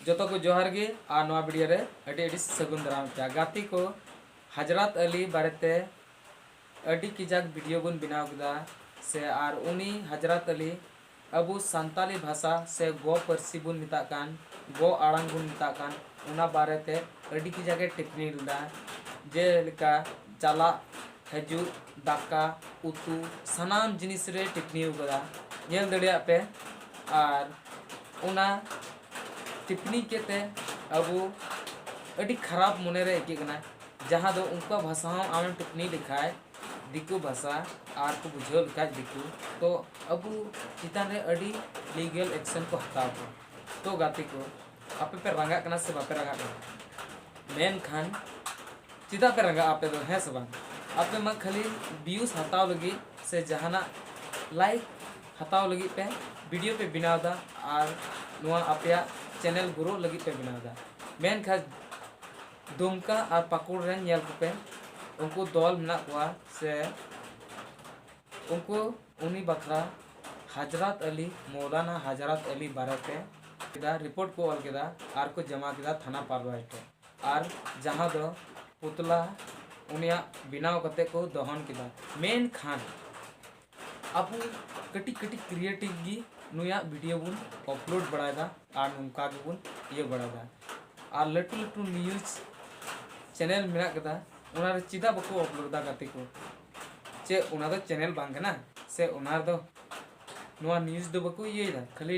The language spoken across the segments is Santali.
ᱡᱚᱛᱚ ᱠᱚ ᱡᱚᱦᱟᱨ ᱜᱮ ᱟᱨ ᱱᱚᱣᱟ ᱵᱷᱤᱰᱤᱭᱳ ᱨᱮ ᱟᱹᱰᱤ ᱟᱹᱰᱤ ᱥᱟᱹᱜᱩᱱ ᱫᱟᱨᱟᱢ ᱠᱮᱭᱟ ᱜᱟᱛᱮ ᱠᱚ ᱦᱟᱡᱨᱟᱛ ᱟᱞᱤ ᱵᱟᱨᱮᱛᱮ ᱟᱹᱰᱤ ᱠᱤᱡᱟᱠ ᱵᱷᱤᱰᱤᱭᱳ ᱵᱚᱱ ᱵᱮᱱᱟᱣ ᱠᱮᱫᱟ ᱥᱮ ᱟᱨ ᱩᱱᱤ ᱦᱟᱡᱨᱟᱛ ᱟᱞᱤ ᱟᱵᱚ ᱥᱟᱱᱛᱟᱞᱤ ᱵᱷᱟᱥᱟ ᱥᱮ ᱜᱚ ᱯᱟᱹᱨᱥᱤ ᱵᱚᱱ ᱢᱮᱛᱟᱜ ᱠᱟᱱ ᱜᱚ ᱟᱲᱟᱝ ᱵᱚᱱ ᱢᱮᱛᱟᱜ ᱠᱟᱱ ᱚᱱᱟ ᱵᱟᱨᱮᱛᱮ ᱟᱹᱰᱤ ᱠᱤᱡᱟᱠᱮ ᱴᱤᱯᱯᱱᱤ ᱞᱮᱫᱟ ᱡᱮᱞᱮᱠᱟ ᱪᱟᱞᱟᱜ ᱦᱤᱡᱩᱜ ᱫᱟᱠᱟ ᱩᱛᱩ ᱥᱟᱱᱟᱢ ᱡᱤᱱᱤᱥ ᱨᱮ ᱴᱤᱯᱯᱱᱤ ᱟᱠᱟᱫᱟ ᱧᱮᱞ ᱫᱟᱲᱮᱭᱟᱜ ᱯᱮ ᱟᱨ ᱚᱱᱟ ᱴᱤᱯᱯᱱᱤ ᱠᱮᱫ ᱛᱮ ᱟᱵᱚ ᱟᱹᱰᱤ ᱠᱷᱟᱨᱟᱯ ᱢᱚᱱᱮ ᱨᱮ ᱟᱹᱭᱠᱟᱹᱜ ᱠᱟᱱᱟ ᱡᱟᱦᱟᱸ ᱫᱚ ᱩᱱᱠᱩᱣᱟᱜ ᱵᱷᱟᱥᱟ ᱦᱚᱸ ᱟᱢᱮᱢ ᱴᱤᱯᱯᱱᱤ ᱞᱮᱠᱷᱟᱡ ᱫᱤᱠᱩ ᱵᱷᱟᱥᱟ ᱟᱨ ᱠᱚ ᱵᱩᱡᱷᱟᱹᱣ ᱞᱮᱠᱷᱟᱡ ᱫᱤᱠᱩ ᱛᱚ ᱟᱵᱚ ᱪᱮᱛᱟᱱ ᱨᱮ ᱟᱹᱰᱤ ᱞᱤᱜᱮᱞ ᱮᱠᱥᱮᱱ ᱠᱚ ᱦᱟᱛᱟᱣ ᱠᱚᱣᱟ ᱛᱚ ᱜᱟᱛᱮ ᱠᱚ ᱟᱯᱮ ᱯᱮ ᱨᱟᱸᱜᱟᱜ ᱠᱟᱱᱟ ᱥᱮ ᱵᱟᱯᱮ ᱨᱟᱸᱜᱟᱜ ᱠᱟᱱᱟ ᱢᱮᱱᱠᱷᱟᱱ ᱪᱮᱫᱟᱜ ᱯᱮ ᱨᱟᱸᱜᱟᱜᱼᱟ ᱟᱯᱮ ᱫᱚ ᱦᱮᱸ ᱥᱮ ᱵᱟᱝ ᱟᱯᱮ ᱢᱟ ᱠᱷᱟᱹᱞᱤ ᱵᱷᱤᱭᱩᱥ ᱦᱟᱛᱟᱣ ᱞᱟᱹᱜᱤᱫ ᱥᱮ ᱡᱟᱦᱟᱱᱟᱜ ᱞᱟᱭᱤᱠ ᱦᱟᱛᱟᱣ ᱞᱟᱹᱜᱤᱫ ᱯᱮ ᱵᱷᱤᱰᱤᱭᱳ ᱯᱮ ᱵᱮᱱᱟᱣ ᱮᱫᱟ ᱟᱨ ᱱᱚᱣᱟ ᱟᱯᱮᱭᱟᱜ ᱪᱮᱱᱮᱞ ᱜᱨᱳ ᱞᱟᱹᱜᱤᱫ ᱯᱮ ᱵᱮᱱᱟᱣ ᱮᱫᱟ ᱢᱮᱱᱠᱷᱟᱱ ᱫᱩᱢᱠᱟ ᱟᱨ ᱯᱟᱹᱠᱩᱲ ᱨᱮᱱ ᱧᱮᱞ ᱠᱚᱯᱮ ᱩᱱᱠᱩ ᱫᱚᱞ ᱢᱮᱱᱟᱜ ᱠᱚᱣᱟ ᱥᱮ ᱩᱱᱠᱩ ᱩᱱᱤ ᱵᱟᱠᱷᱨᱟ ᱦᱟᱡᱨᱟᱛ ᱟᱞᱤ ᱢᱚᱣᱞᱟᱱᱟ ᱦᱟᱡᱨᱟᱛ ᱟᱞᱤ ᱵᱟᱨᱮᱛᱮ ᱠᱮᱫᱟ ᱨᱤᱯᱳᱨᱴ ᱠᱚ ᱚᱞ ᱠᱮᱫᱟ ᱟᱨ ᱠᱚ ᱡᱚᱢᱟ ᱠᱮᱫᱟ ᱛᱷᱟᱱᱟ ᱯᱟᱨᱣᱟᱭ ᱴᱷᱮᱱ ᱟᱨ ᱡᱟᱦᱟᱸ ᱫᱚ ᱯᱩᱛᱞᱟ ᱩᱱᱤᱭᱟᱜ ᱵᱮᱱᱟᱣ ᱠᱟᱛᱮ ᱠᱚ ᱫᱚᱦᱚᱱ ᱠᱮᱫᱟ ᱢᱮᱱᱠᱷᱟᱱ ᱟᱵᱚ ᱠᱟᱹᱴᱤᱡ ᱠᱟᱹᱴᱤᱡ ᱠᱨᱤᱭᱮᱴᱤᱵᱽ ᱜᱮ ᱱᱩᱭᱟᱜ ᱵᱷᱤᱰᱤᱭᱳ ᱵᱚᱱ ᱟᱯᱞᱳᱰ ᱵᱟᱲᱟᱭᱮᱫᱟ ᱟᱨ ᱱᱚᱝᱠᱟ ᱜᱮᱵᱚᱱ ᱤᱭᱟᱹ ᱵᱟᱲᱟᱭᱮᱫᱟ ᱟᱨ ᱞᱟᱹᱴᱩ ᱞᱟᱹᱴᱩ ᱱᱤᱭᱩᱡᱽ ᱪᱮᱱᱮᱞ ᱢᱮᱱᱟᱜ ᱠᱟᱫᱟ ᱚᱱᱟ ᱨᱮ ᱪᱮᱫᱟᱜ ᱵᱟᱠᱚ ᱟᱯᱞᱳᱰ ᱮᱫᱟ ᱜᱟᱛᱮ ᱠᱚ ᱪᱮ ᱚᱱᱟ ᱫᱚ ᱪᱮᱱᱮᱞ ᱵᱟᱝ ᱠᱟᱱᱟ ᱥᱮ ᱚᱱᱟ ᱨᱮᱫᱚ ᱱᱚᱣᱟ ᱱᱤᱭᱩᱡᱽ ᱫᱚ ᱵᱟᱠᱚ ᱤᱭᱟᱹᱭᱮᱫᱟ ᱠᱷᱟᱹᱞᱤ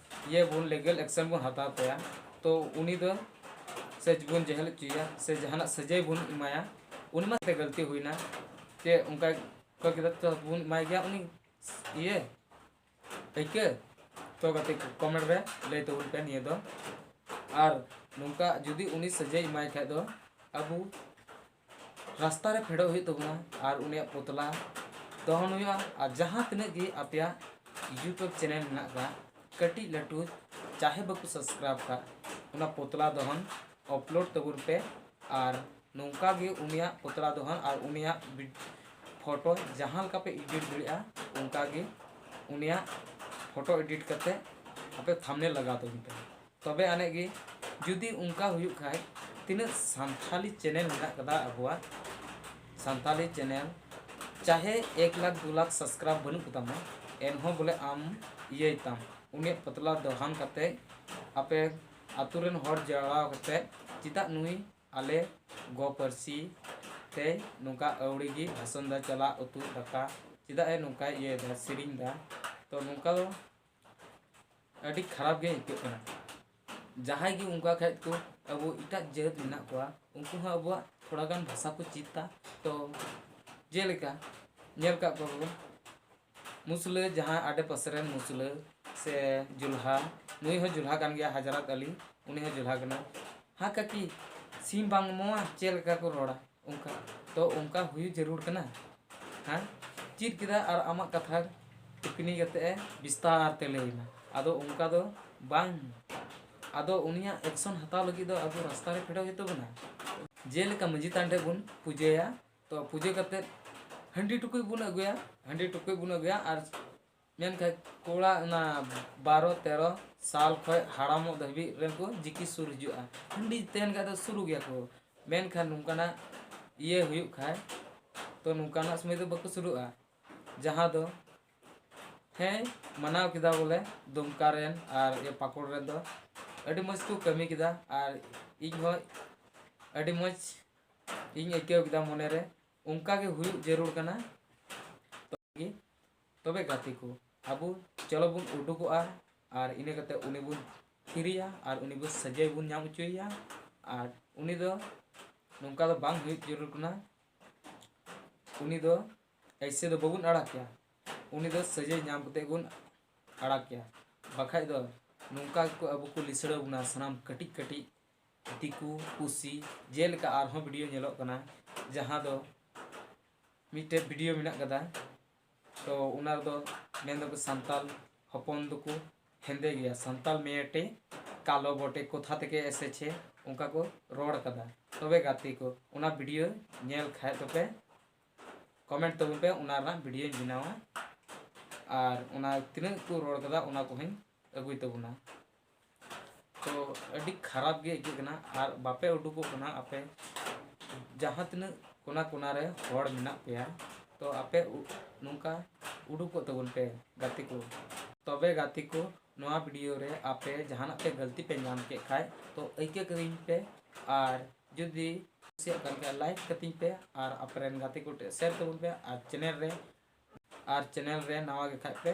ᱤᱭᱟᱹ ᱵᱚᱱ ᱞᱤᱜᱟᱞ ᱮᱠᱥᱮᱱ ᱵᱚᱱ ᱦᱟᱛᱟᱣ ᱛᱟᱭᱟ ᱛᱚ ᱩᱱᱤ ᱫᱚ ᱥᱮ ᱵᱚᱱ ᱡᱮᱦᱮᱞ ᱦᱚᱪᱚᱭᱟ ᱥᱮ ᱡᱟᱦᱟᱱᱟᱜ ᱥᱟᱹᱡᱟᱹᱭ ᱵᱚᱱ ᱮᱢᱟᱭᱟ ᱩᱱᱤ ᱢᱟ ᱛᱮ ᱜᱟᱹᱞᱛᱤ ᱦᱩᱭᱱᱟ ᱛᱮ ᱚᱱᱠᱟ ᱚᱠᱚᱭ ᱠᱮᱫᱟ ᱛᱚ ᱵᱚᱱ ᱮᱢᱟᱭ ᱜᱮᱭᱟ ᱩᱱᱤ ᱤᱭᱟᱹ ᱟᱹᱭᱠᱟᱹ ᱛᱚ ᱜᱟᱛᱮ ᱠᱚᱢᱮᱱᱴ ᱨᱮ ᱞᱟᱹᱭ ᱛᱟᱵᱚᱱ ᱯᱮ ᱱᱤᱭᱟᱹ ᱫᱚ ᱟᱨ ᱱᱚᱝᱠᱟ ᱡᱩᱫᱤ ᱩᱱᱤ ᱥᱟᱹᱡᱟᱹᱭ ᱮᱢᱟᱭ ᱠᱷᱟᱡ ᱫᱚ ᱟᱵᱚ ᱨᱟᱥᱛᱟ ᱨᱮ ᱯᱷᱮᱰᱚᱜ ᱦᱩᱭᱩᱜ ᱛᱟᱵᱚᱱᱟ ᱟᱨ ᱩᱱᱤᱭᱟᱜ ᱯᱩᱛᱞᱟ ᱫᱚᱦᱚᱱ ᱦᱩᱭᱩᱜᱼᱟ ᱟᱨ ᱡᱟᱦᱟᱸ ᱛᱤᱱᱟᱹᱜ ᱜᱮ ᱟᱯᱮᱭᱟᱜ ᱤᱭᱩᱴᱩᱵᱽ ᱪᱮᱱᱮᱞ ᱢᱮᱱᱟᱜ ᱟᱠᱟᱫ ᱠᱟᱹᱴᱤᱡ ᱞᱟᱹᱴᱩ ᱪᱟᱦᱮ ᱵᱟᱠᱚ ᱥᱟᱵᱥᱠᱨᱟᱭᱤᱵᱽ ᱟᱠᱟᱫ ᱚᱱᱟ ᱯᱩᱛᱞᱟ ᱫᱚᱦᱚᱱ ᱚᱯᱞᱳᱰ ᱛᱟᱵᱚᱱ ᱯᱮ ᱟᱨ ᱱᱚᱝᱠᱟ ᱜᱮ ᱩᱱᱤᱭᱟᱜ ᱯᱩᱛᱞᱟ ᱫᱚᱦᱚᱱ ᱟᱨ ᱩᱱᱤᱭᱟᱜ ᱯᱷᱳᱴᱳ ᱡᱟᱦᱟᱸ ᱞᱮᱠᱟ ᱯᱮ ᱮᱰᱤᱴ ᱫᱟᱲᱮᱭᱟᱜᱼᱟ ᱚᱱᱠᱟ ᱜᱮ ᱩᱱᱤᱭᱟᱜ ᱯᱷᱳᱴᱳ ᱮᱰᱤᱴ ᱠᱟᱛᱮᱫ ᱟᱯᱮ ᱛᱷᱟᱢᱵᱽᱱᱮᱞ ᱞᱟᱜᱟᱣ ᱛᱟᱵᱚᱱ ᱯᱮ ᱛᱚᱵᱮ ᱟᱱᱮᱡ ᱜᱮ ᱡᱩᱫᱤ ᱚᱱᱠᱟ ᱦᱩᱭᱩᱜ ᱠᱷᱟᱡ ᱛᱤᱱᱟᱹᱜ ᱥᱟᱱᱛᱷᱟᱞᱤ ᱪᱮᱱᱮᱞ ᱢᱮᱱᱟᱜ ᱟᱠᱟᱫᱟ ᱟᱵᱚᱣᱟᱜ ᱥᱟᱱᱛᱟᱞᱤ ᱪᱮᱱᱮᱞ ᱪᱟᱦᱮ ᱮᱠ ᱞᱟᱠᱷ ᱫᱩ ᱞᱟᱠᱷ ᱥᱟᱵᱥᱠᱨᱟᱭᱤᱵ ᱵᱟᱹᱱᱩᱜ ᱠᱚᱛᱟᱢᱟ ᱮᱱᱦᱚᱸ ᱵᱚᱞᱮ ᱟᱢ ᱤᱭᱟᱹᱭ ᱛᱟᱢ ᱩᱱᱤᱭᱟᱜ ᱯᱚᱛᱞᱟ ᱫᱚᱦᱟᱱ ᱠᱟᱛᱮ ᱟᱯᱮ ᱟᱛᱳ ᱨᱮᱱ ᱦᱚᱲ ᱡᱟᱣᱨᱟ ᱠᱟᱛᱮ ᱪᱮᱫᱟᱜ ᱱᱩᱭ ᱟᱞᱮ ᱜᱚ ᱯᱟᱹᱨᱥᱤ ᱛᱮ ᱱᱚᱝᱠᱟ ᱟᱹᱣᱲᱤ ᱜᱮ ᱵᱷᱟᱥᱚᱱ ᱫᱟ ᱪᱟᱞᱟᱜ ᱩᱛᱩ ᱫᱟᱠᱟ ᱪᱮᱫᱟᱜ ᱮ ᱱᱚᱝᱠᱟᱭ ᱤᱭᱟᱹᱭ ᱫᱟ ᱥᱮᱨᱮᱧ ᱫᱟ ᱛᱚ ᱱᱚᱝᱠᱟ ᱫᱚ ᱟᱹᱰᱤ ᱠᱷᱟᱨᱟᱯ ᱜᱮ ᱟᱹᱭᱠᱟᱹᱜ ᱠᱟᱱᱟ ᱡᱟᱦᱟᱸᱭ ᱜᱮ ᱚᱱᱠᱟ ᱠᱷᱟᱡ ᱠᱚ ᱟᱵᱚ ᱮᱴᱟᱜ ᱡᱟᱹᱛ ᱢᱮᱱᱟᱜ ᱠᱚᱣᱟ ᱩᱱᱠᱩ ᱦᱚᱸ ᱟᱵᱚᱣᱟᱜ ᱛᱷᱚᱲᱟ ᱜᱟᱱ ᱵᱷᱟᱥᱟ ᱠᱚ ᱪᱮᱫᱟ ᱛᱚ ᱡᱮᱞᱮᱠᱟ ᱧᱮᱞ ᱠᱟᱜ ᱠᱚᱣᱟ ᱵᱚᱱ ᱢᱩᱥᱞᱟᱹ ᱡᱟᱦᱟᱸ ᱟᱰᱮ ᱯᱟᱥᱮ ᱨᱮᱱ ᱢᱩᱥᱞᱟᱹ ᱥᱮ ᱡᱩᱞᱦᱟ ᱱᱩᱭ ᱦᱚᱸ ᱡᱩᱞᱦᱟ ᱠᱟᱱ ᱜᱮᱭᱟ ᱦᱟᱡᱨᱟᱛ ᱟᱞᱤ ᱩᱱᱤ ᱦᱚᱸ ᱡᱩᱞᱦᱟ ᱠᱟᱱᱟᱭ ᱦᱟ ᱠᱟᱠᱤ ᱥᱤᱢ ᱵᱟᱝ ᱮᱢᱚᱜᱼᱟ ᱪᱮᱫ ᱞᱮᱠᱟ ᱠᱚ ᱨᱚᱲᱟ ᱚᱱᱠᱟ ᱛᱚ ᱚᱱᱠᱟ ᱦᱩᱭᱩᱜ ᱡᱟᱹᱨᱩᱲ ᱠᱟᱱᱟ ᱦᱮᱸ ᱪᱮᱫ ᱠᱮᱫᱟ ᱟᱨ ᱟᱢᱟᱜ ᱠᱟᱛᱷᱟ ᱴᱤᱯᱯᱤᱱᱤ ᱠᱟᱛᱮ ᱮ ᱵᱤᱥᱛᱟᱨ ᱛᱮ ᱞᱟᱹᱭᱟᱢᱟ ᱟᱫᱚ ᱚᱱᱠᱟ ᱫᱚ ᱵᱟᱝ ᱟᱫᱚ ᱩᱱᱤᱭᱟᱜ ᱮᱠᱥᱚᱱ ᱦᱟᱛᱟᱣ ᱞᱟᱹᱜᱤᱫ ᱫᱚ ᱟᱵᱚ ᱨᱟᱥᱛᱟ ᱨᱮ ᱯᱷᱮᱰᱚᱜ ᱦᱩᱭᱩᱜ ᱛᱟᱵᱚᱱᱟ ᱡᱮᱞᱮᱠᱟ ᱢᱟᱹᱡᱷᱤ ᱛᱷᱟᱱ ᱨᱮ ᱵᱚᱱ ᱯᱩᱡᱟᱹᱭᱟ ᱛᱚ ᱯᱩᱡᱟᱹ ᱠᱟᱛᱮ ᱦᱟᱺᱰᱤ ᱴᱩᱠᱩᱡ ᱵᱚᱱ ᱟᱹᱜᱩᱭᱟ ᱦᱟᱺᱰᱤ ᱴᱩᱠᱩᱡ ᱵᱚᱱ ᱟᱹᱜᱩᱭᱟ ᱟᱨ ᱢᱮᱱᱠᱷᱟᱡ ᱠᱚᱲᱟ ᱚᱱᱟ ᱵᱟᱨᱚ ᱛᱮᱨᱚ ᱥᱟᱞ ᱠᱷᱚᱡ ᱦᱟᱲᱟᱢᱚᱜ ᱫᱷᱟᱹᱵᱤᱡ ᱨᱮᱠᱚ ᱡᱤᱠᱤ ᱥᱩᱨ ᱦᱤᱡᱩᱜᱼᱟ ᱦᱟᱺᱰᱤ ᱛᱟᱦᱮᱱ ᱠᱷᱟᱡ ᱫᱚ ᱥᱩᱨᱩᱜ ᱜᱮᱭᱟ ᱠᱚ ᱢᱮᱱᱠᱷᱟᱱ ᱱᱚᱝᱠᱟᱱᱟᱜ ᱤᱭᱟᱹ ᱦᱩᱭᱩᱜ ᱠᱷᱟᱡ ᱛᱚ ᱱᱚᱝᱠᱟᱱᱟᱜ ᱥᱚᱢᱚᱭ ᱫᱚ ᱵᱟᱠᱚ ᱥᱩᱨᱩᱜᱼᱟ ᱡᱟᱦᱟᱸ ᱫᱚ ᱦᱮᱸ ᱢᱟᱱᱟᱣ ᱠᱮᱫᱟ ᱵᱚᱞᱮ ᱫᱩᱢᱠᱟ ᱨᱮᱱ ᱟᱨ ᱯᱟᱠᱩᱲ ᱨᱮᱱ ᱫᱚ ᱟᱹᱰᱤ ᱢᱚᱡᱽ ᱠᱚ ᱠᱟᱹᱢᱤ ᱠᱮᱫᱟ ᱟᱨ ᱤᱧ ᱦᱚᱸ ᱟᱹᱰᱤ ᱢᱚᱡᱽ ᱤᱧ ᱟᱹᱭᱠᱟᱹᱣ ᱠᱮᱫᱟ ᱢᱚᱱᱮᱨᱮ ᱚᱱᱠᱟᱜᱮ ᱦᱩᱭᱩᱜ ᱡᱟᱹᱨᱩᱲ ᱠᱟᱱᱟ ᱛᱚᱵᱮ ᱜᱟᱛᱮ ᱠᱚ ᱟᱵᱚ ᱪᱚᱞᱚ ᱵᱚᱱ ᱩᱰᱩᱠᱚᱜᱼᱟ ᱟᱨ ᱤᱱᱟᱹ ᱠᱟᱛᱮ ᱩᱱᱤ ᱵᱚᱱ ᱛᱷᱤᱨᱮᱭᱟ ᱟᱨ ᱩᱱᱤ ᱵᱚᱱ ᱥᱟᱡᱟᱭ ᱵᱚᱱ ᱧᱟᱢ ᱦᱚᱪᱚᱭᱮᱭᱟ ᱟᱨ ᱩᱱᱤ ᱫᱚ ᱱᱚᱝᱠᱟ ᱫᱚ ᱵᱟᱝ ᱦᱩᱭᱩᱜ ᱡᱟᱹᱨᱩᱲ ᱠᱟᱱᱟ ᱩᱱᱤ ᱫᱚ ᱮᱭᱥᱮ ᱫᱚ ᱵᱟᱵᱚᱱ ᱟᱲᱟᱜᱮᱭᱟ ᱩᱱᱤ ᱫᱚ ᱥᱟᱡᱟᱭ ᱧᱟᱢ ᱠᱟᱛᱮ ᱵᱚᱱ ᱟᱲᱟᱜᱮᱭᱟ ᱵᱟᱠᱷᱟᱡ ᱫᱚ ᱱᱚᱝᱠᱟ ᱜᱮᱠᱚ ᱟᱵᱚ ᱠᱚ ᱞᱤᱥᱟᱹᱲ ᱵᱚᱱᱟ ᱥᱟᱱᱟᱢ ᱠᱟᱹᱴᱤᱡ ᱠᱟᱹᱴᱤᱡ ᱫᱤᱠᱩ ᱯᱩᱥᱤ ᱡᱮᱞᱮᱠᱟ ᱟᱨᱦᱚᱸ ᱵᱷᱤᱰᱤᱭᱳ ᱧᱮᱞᱚᱜ ᱠᱟᱱᱟ ᱡᱟᱦᱟᱸ ᱫᱚ ᱢᱤᱫᱴᱮᱡ ᱵᱷᱤᱰᱤᱭᱳ ᱢᱮᱱᱟᱜ ᱠᱟᱫᱟ ᱛᱚ ᱚᱱᱟ ᱨᱮᱫᱚ ᱢᱮᱱ ᱫᱟᱠᱚ ᱥᱟᱱᱛᱟᱞ ᱦᱚᱯᱚᱱ ᱫᱚᱠᱚ ᱦᱮᱸᱫᱮ ᱜᱮᱭᱟ ᱥᱟᱱᱛᱟᱞ ᱢᱮᱭᱮᱴᱮ ᱠᱟᱞᱚ ᱵᱚᱴᱮ ᱠᱳᱛᱷᱟ ᱛᱷᱮᱠᱮ ᱮᱥᱮᱪᱷᱮ ᱚᱱᱠᱟ ᱠᱚ ᱨᱚᱲ ᱠᱟᱫᱟ ᱛᱚᱵᱮ ᱜᱟᱛᱮ ᱠᱚ ᱚᱱᱟ ᱵᱷᱤᱰᱤᱭᱳ ᱧᱮᱞ ᱠᱷᱟᱡ ᱫᱚᱯᱮ ᱠᱚᱢᱮᱱᱴ ᱛᱟᱵᱚᱱ ᱯᱮ ᱚᱱᱟ ᱨᱮᱱᱟᱜ ᱵᱷᱤᱰᱤᱭᱳᱧ ᱵᱮᱱᱟᱣᱟ ᱟᱨ ᱚᱱᱟ ᱛᱤᱱᱟᱹᱜ ᱠᱚ ᱨᱚᱲ ᱠᱟᱫᱟ ᱚᱱᱟ ᱠᱚᱦᱚᱸᱧ ᱟᱹᱜᱩᱭ ᱛᱟᱵᱚᱱᱟ ᱛᱚ ᱟᱹᱰᱤ ᱠᱷᱟᱨᱟᱯ ᱜᱮ ᱟᱹᱭᱠᱟᱹᱜ ᱠᱟᱱᱟ ᱟᱨ ᱵᱟᱯᱮ ᱩᱰᱩᱠᱚᱜ ᱠᱟᱱᱟ ᱟᱯᱮ ᱡᱟᱦᱟᱸ ᱛᱤᱱᱟᱹᱜ ᱠᱚᱱᱟ ᱠᱚᱱᱟ ᱨᱮ ᱦᱚᱲ ᱢᱮᱱᱟᱜ ᱯᱮᱭᱟ ᱛᱚ ᱟᱯᱮ ᱱᱚᱝᱠᱟ ᱩᱰᱩᱠᱚᱜ ᱛᱟᱵᱚᱱ ᱯᱮ ᱜᱟᱛᱮ ᱠᱚ ᱛᱚᱵᱮ ᱜᱟᱛᱮ ᱠᱚ ᱱᱚᱣᱟ ᱵᱷᱤᱰᱤᱭᱳ ᱨᱮ ᱟᱯᱮ ᱡᱟᱦᱟᱱᱟᱜ ᱯᱮ ᱜᱟᱹᱞᱛᱤ ᱯᱮ ᱧᱟᱢ ᱠᱮᱫ ᱠᱷᱟᱡ ᱛᱚ ᱟᱹᱭᱠᱟᱹ ᱠᱟᱹᱫᱤᱧ ᱯᱮ ᱟᱨ ᱡᱩᱫᱤ ᱠᱩᱥᱤᱭᱟᱜ ᱠᱟᱱ ᱠᱷᱟᱡ ᱞᱟᱭᱤᱠ ᱠᱟᱹᱛᱤᱧ ᱯᱮ ᱟᱨ ᱟᱯᱮᱨᱮᱱ ᱜᱟᱛᱮ ᱠᱚ ᱴᱷᱮᱱ ᱥᱮᱭᱟᱨ ᱛᱟᱵᱚᱱ ᱯᱮ ᱟᱨ ᱪᱮᱱᱮᱞ ᱨᱮ ᱟᱨ ᱪᱮᱱᱮᱞ ᱨᱮ ᱱᱟᱣᱟ ᱜᱮ ᱠᱷᱟᱡ ᱯᱮ